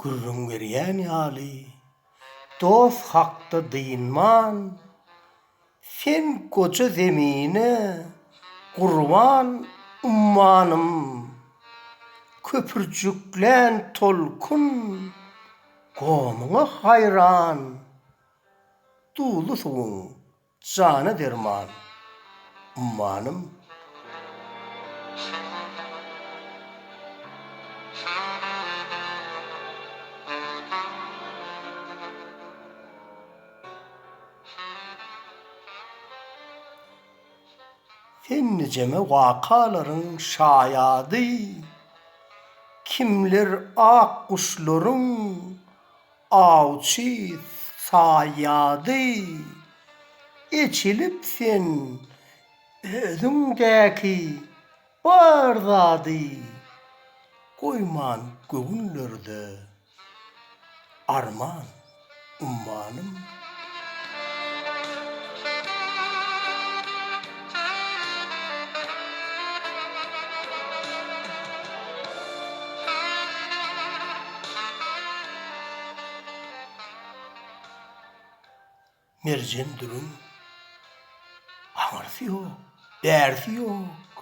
Gürrüň berýän ýaly, dost hakda dynman, Sen goja zemine gurban ummanym, Köpürjiklän tolkun gomyňa haýran, Duly suwuň Jana derman ummanym. Sen nijeme wakalaryň şaýady, Kimler ak guşlaryň Awçy saýýady, eçilip sen özüňdäki bar zady goýman göwünlerde arman ummanym. Merjen durun. Aňyrsy ýok, bärsi ýok.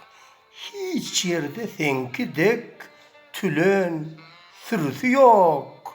Hiç ýerde seňki dek tülen sürüsi ýok.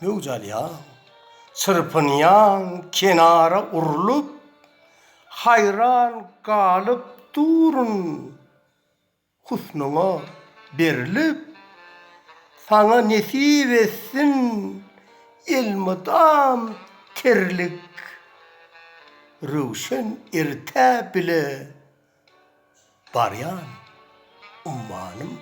Möwç alýaň, çyrpynýaň kenara urlup, Haýran galyp durun husnuňa berlip, Saňa nesip etsin elmydam terlik, Röwşen erte bile Barýan ummanym.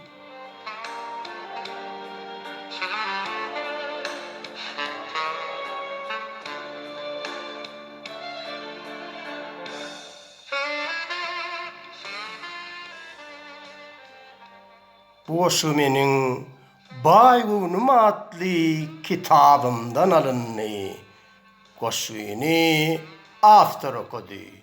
Bu goşgy meniň Baý göwnüm atly kitabymdan alyndy. Goşgyny awtor okady.